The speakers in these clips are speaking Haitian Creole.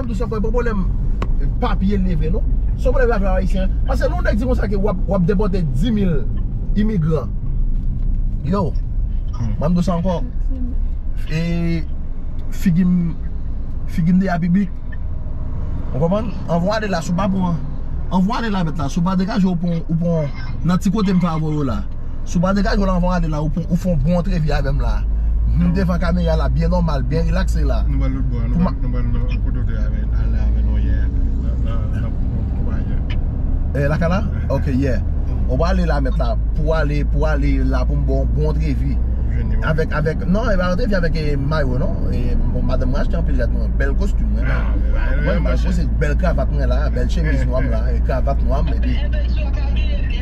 Mwen di w son pwoblèm papye li vre non. Son pwoblèm lajan ayisyen an. Pase lè yon nèg di konsa ke w ap depòte 10.000 imigran. Yow, mwen di w sa ankò, e figi m, figi m deja pi big. Ou konprann? An vwa ale la si w pa pran, an vwa ale la mèt la si w pa degaje w pou w pran nan ti kote m favori w la. Si w pa degaje w la anvan w ale la ou fè yon bon antrevi avè m la M devan kamera la byen nòmal, byen rilakse la Nou pral lòt bò a, nou pral nan kote w te ale avè nou yè a Nan konpayi a Eh lakay la? Ok yè Ou pral ale la mèt la Pou w ale, pou w ale la pou m ba w yon bon antrevi Avèk, avèk, non e pa antrevi avèk mayo non Madanm mwen achte anpil rad mwen, bèl kostim mwen la Mwen mwen achte bèl kravat mwen la, bèl chemiz nwa m la, kravat nwa m epi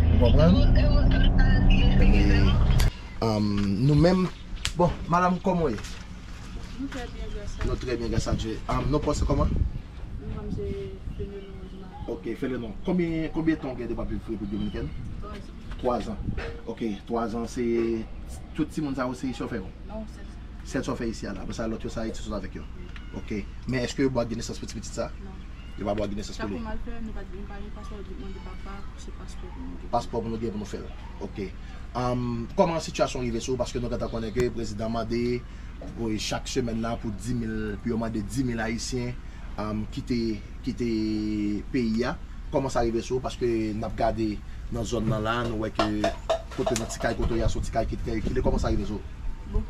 Ou konprann? E nou menm Bon, madam kòman ou ye? Nou trè byen gras a Nou trè byen gras a Dye. Non paw se kòman? Non pam se Fenelon Rosemary. Ok Fenelon, konbyen tan ou gen depi wap viv Repiblik Dominikèn? Twazan. Twazan. Ok, twazan se tout timoun sa yo se chòfè yo? Non, sèl chòfè. Sèl chòfè isi a la. Apresa lòt yo se Ayiti sot avèk yo? Wi. Ok. Men èske yo ba w ak de nesans pou ti pitit sa? Non. Yo pa dwa gen nesans pou li. Sa pou mal fè nou pa gen pa gen paspò oblig mande papa se paspò pou nou gen. Paspò pou nou gen pou nou fèl ok um kòman sitiyasyon rive sou ou paske nou gentan konnen ke prezidan mande chak semèn nan pou dimil pou yo mande dimil ayisyen um kite kite peyi a kòman sa rive sou ou paske nap gade nan zòn nan la nou wè ke kote nan ti kay kote ou ye a son ti kay ki trè rekile kòman sa rive sou ou. Bon.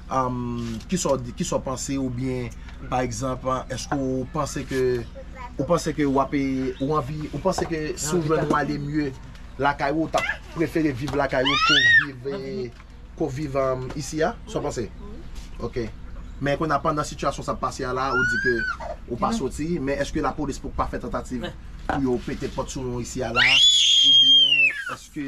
Kisa w di, kisa w panse ou byen pa egzanp eske w panse ke ou panse ke wap e ou anvi ou panse ke si w jwenn ou ale mye lakay ou ou tap prefere viv lakay ou ke w viv e ke w viv isi a sa w panse ok men kounye a pandan sitiyasyon sa ap pase a la ou di ke ou pa soti men eske lapolis poko pa fè tantativ pou yo pete pòt sou nou isi a la ou byen eske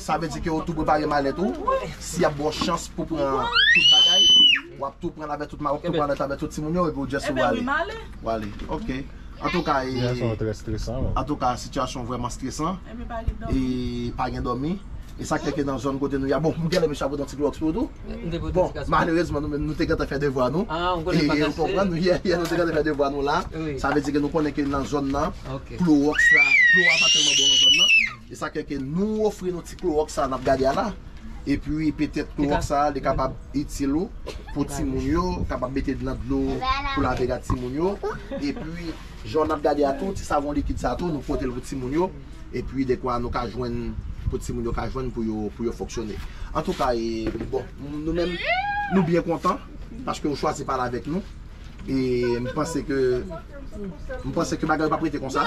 Sa vle di ke ou tou prepare malèt ou, si yap baw chans pou pran tout bagay, wap tou pranl avè tout malèt, tout malèt avè tout timoun yo epi ou just ou ale. Ou ale ok. Antouka e Antouka sitiyasyon vrèman stresan e pa gen dòmi e sak fè ke nan zòn kote nou ya bon m genlè mesye pote yon ti klòks pou ou tou bon malerezman nou menm nou te gentan fè devwa nou e ou konprann nou yè yè nou te gentan fè devwa nou la sa vle di ke nou konnen ke nan zòn nan klorox la dlo a pa tèlman bon nan zòn nan. E sak fè ke nou ofri nou ti klorox sa nap gade a la, epi petèt klorox sa li kapab itil ou pou timoun yo, kapab mete nan dlo pou lave rad timoun yo, epi jan nap gade a tou ti savon likid sa tou nou potel pou timoun yo, epi dekwa nou ka jwenn pou timoun yo ka jwenn pou yo pou yo fonksyone. Antouka e bon nou menm nou byen kontan paske ou chwazi pale avèk nou, e m panse ke m panse ke bagay yo pap rete konsa.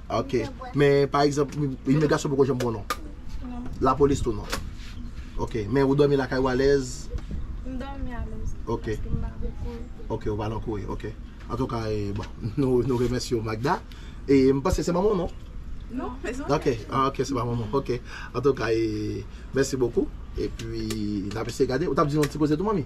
Ok, men pa egzanp, imigrasyon poko janm bon non? Non. Lapolis tou non? Non. Ok, men ou dòmi lakay ou alèz? M dòmi alèz. Ok. Paske m pa lan kouye. Ok, ou pa lan kouye, ok. Antouka, e, bon, nou remèsye ou Magda. E, m panse se manman w non? Non, se manman m. Ok, ah ok, se pa manman w, ok. Antouka, e, mèsi bokou. E pi, n ap eseye gade. Ou t ap di nou yon ti koze tou manmi?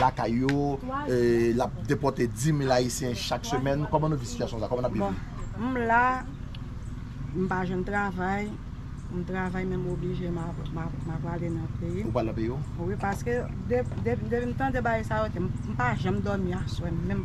lakay yo, l ap depòte 10.000 ayisyen chak semèn, kòman nou viv sitiyasyon sa, kòman n ap viv li? Bon, m la, m pa jwenn travay, m travay men m oblije m ap ale nan peyi m. Ou pral nan peyi w? Wi, paske depi m tande bagay sa yo, m pa janm dòmi aswè menm.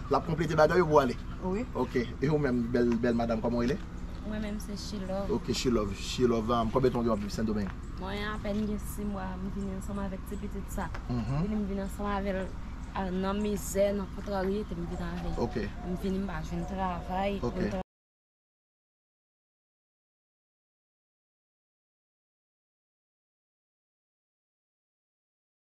Lap konplete bagay yo pou ale? Wi. Ok. E ou menm bèl bèl madam kòman ou rele? Mwen menm se Shilove. Ok Shilove. Shilove, konbyen tan ou gen wap viv Sendomeng? Mwen apèn gen 6 mwa m vini ansanm avèk ti pitit sa. M vini m vini ansanm avèl nan mizè, nan kontraryete m vini avè l. Ok. M vini m pa jwenn travay. Ok.